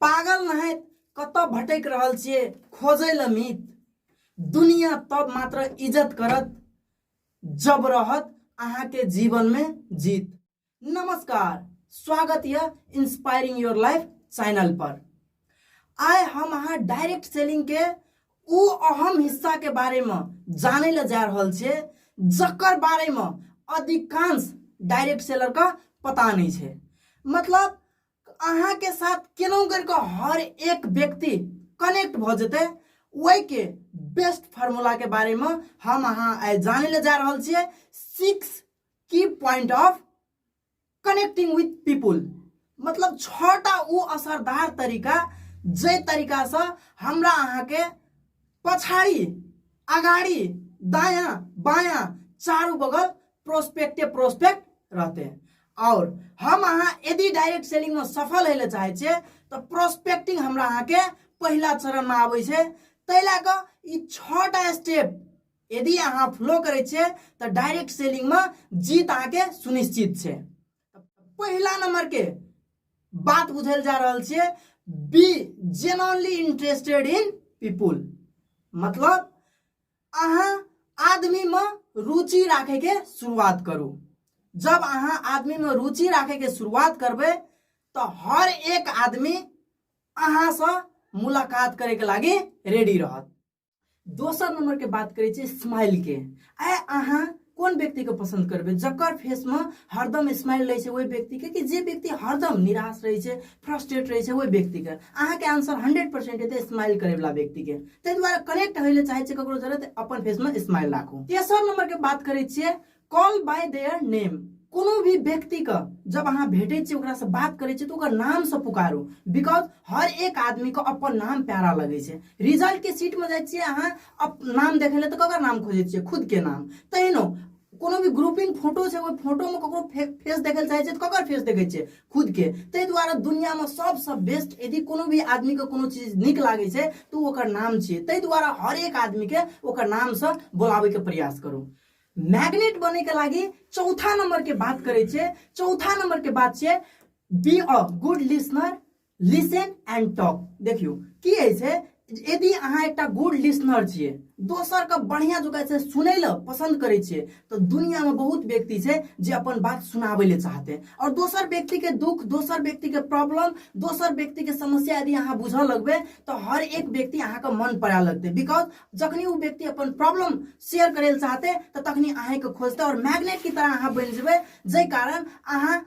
पागल नहि कतऽ भटकि रहल छियै खोजै लए मीत दुनिया तब मात्र इज्जत करत जब रहत अहाँके जीवनमे जीत नमस्कार स्वागत यऽ इंस्पायरिंग योर लाइफ चैनल पर आइ हम अहाँ डायरेक्ट सेलिंग के ओ अहम हिस्सा के बारे में जाने ला जा रहल छियै जकर बारे में अधिकांश डायरेक्ट सेलर का पता नहीं है मतलब अहाँके साथ केना करिकऽ हर एक व्यक्ति कनेक्ट भऽ जेतै ओहिके बेस्ट फार्मूलाके बारेमे हम अहाँ आइ जानै लए जा रहल छियै six key point of connecting with people मतलब छटा ओ असरदार तरीका जाहि तरीकासँ हमरा अहाँके पछाड़ी अगाड़ी दायाँ बायाँ चारू बगल प्रोस्पेक्टे प्रोस्पेक्ट रहते हैं और हम अहाँ यदि डायरेक्ट सेलिंग में सफल हेले चाहे छे तो प्रोस्पेक्टिंग हमरा अहाँ के पहला चरण में आवे छे तै ला क ई छटा स्टेप यदि अहाँ फ्लो करे छे तो डायरेक्ट सेलिंग में जीत अहाँ के सुनिश्चित छे पहला नंबर के बात बुझल जा रहल छे बी जेनरली इंटरेस्टेड इन पीपुल मतलब अहाँ आदमीमे रुचि राखैके शुरुआत करू जब अहाँ आदमीमे रुचि राखैके शुरुआत करबै तऽ हर एक आदमी अहाँसँ मुलाकात करैके लागि रेडी रहत दोसर नम्बरके बात करै छी स्माइलके आइ अहाँ कोन व्यक्ति के पसंद करबे जकर फेस में हरदम स्माइल रहे छै ओहि व्यक्ति के कि जे व्यक्ति हरदम निराश रहे छै फ्रस्ट्रेट रहे छै ओहि व्यक्ति के अहाँ के आंसर हंड्रेड परसेंट हेतै स्माइल करे वाला व्यक्ति के ताहि दुआरे कनेक्ट होय ले चाहे छै ककरो जरूरत अपन फेस में स्माइल राखू तेसर नंबर के बात करे छियै कॉल बाय देयर नेम कोनो भी व्यक्ति के जब अहाँ भेटे छी ओकरा से बात करे छी तो ओकर नाम से पुकारू बिकॉज हर एक आदमी के अपन नाम प्यारा लगे छै रिजल्ट के सीट में जाए छी अहाँ अब नाम देखे ले तो ककर नाम खोजे छे खुद के नाम तहनो कोनो भी ग्रुपिंग फोटो छै ओहि फोटो में ककरो फे, फेस देखे चाहे छै तो ककर फेस देखे छे खुद के ते द्वारा दुनिया में सबसे बेस्ट यदि कोनो भी आदमी के कोनो चीज निक लागे छै तो ओकर नाम छे ते द्वारा हर एक आदमी के ओकर नाम से बुलावे के प्रयास करू मैग्नेट बने के लागी चौथा नंबर के बात करे छे चौथा नंबर के बात छे be a good listener listen and talk देखियो की है से यदि अहाँ एक गुड लिसनर छे दोसर के बढ़िया जुका से सुने ल पसंद करे छे तो दुनिया में बहुत व्यक्ति छे जे अपन बात सुनावे ले चाहते हैं और दोसर व्यक्ति के दुख दोसर व्यक्ति के प्रॉब्लम दोसर व्यक्ति के समस्या यदि अहाँ बुझ लगबे तो हर एक व्यक्ति अहाँ के मन पड़ा लगते बिकॉज जखनी वो व्यक्ति अपन प्रॉब्लम शेयर करे चाहते तो तखनी अहाँ के खोजते और मैग्नेट की तरह अहाँ बन जब जै कारण अहाँ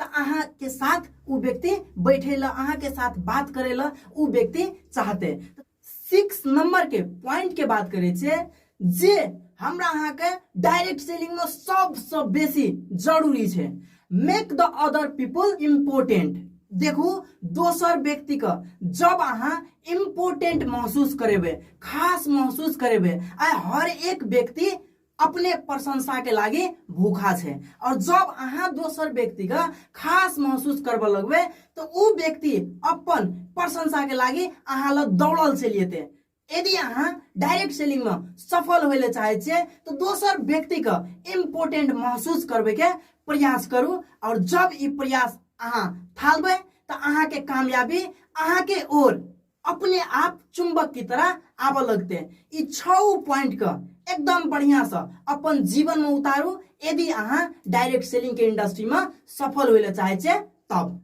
तऽ अहाँके साथ ओ व्यक्ति बैठे ला अहाँके साथ बात करे ला ओ व्यक्ति चाहते सिक्स नंबर के पॉइंट के बात करे छे जे हमरा अहाँके डायरेक्ट सेलिंग में सबसे बेसी जरूरी छे make the other people important देखू दोसर व्यक्ति के जब अहाँ इम्पोर्टेंट महसूस करेबे खास महसूस करेबे आ हर एक व्यक्ति अपने प्रशंसा के लागे भूखा छे और जब अहा दोसर व्यक्ति का खास महसूस करब लगबे तो उ व्यक्ति अपन प्रशंसा के लागे अहा ल दौड़ल से लेते यदि अहा डायरेक्ट सेलिंग में सफल होले चाहे छे तो दोसर व्यक्ति का इम्पोर्टेंट महसूस करबे के प्रयास करू और जब ये प्रयास अहा थालबे तो अहा के कामयाबी अहा के ओर अपने आप चुंबक की तरह आब लगते ई छओ पॉइंट का एकदम बढ़िया से अपन जीवन में उतारू यदि अहाँ डायरेक्ट सेलिंग के इंडस्ट्री में सफल होइले चाहे छे तब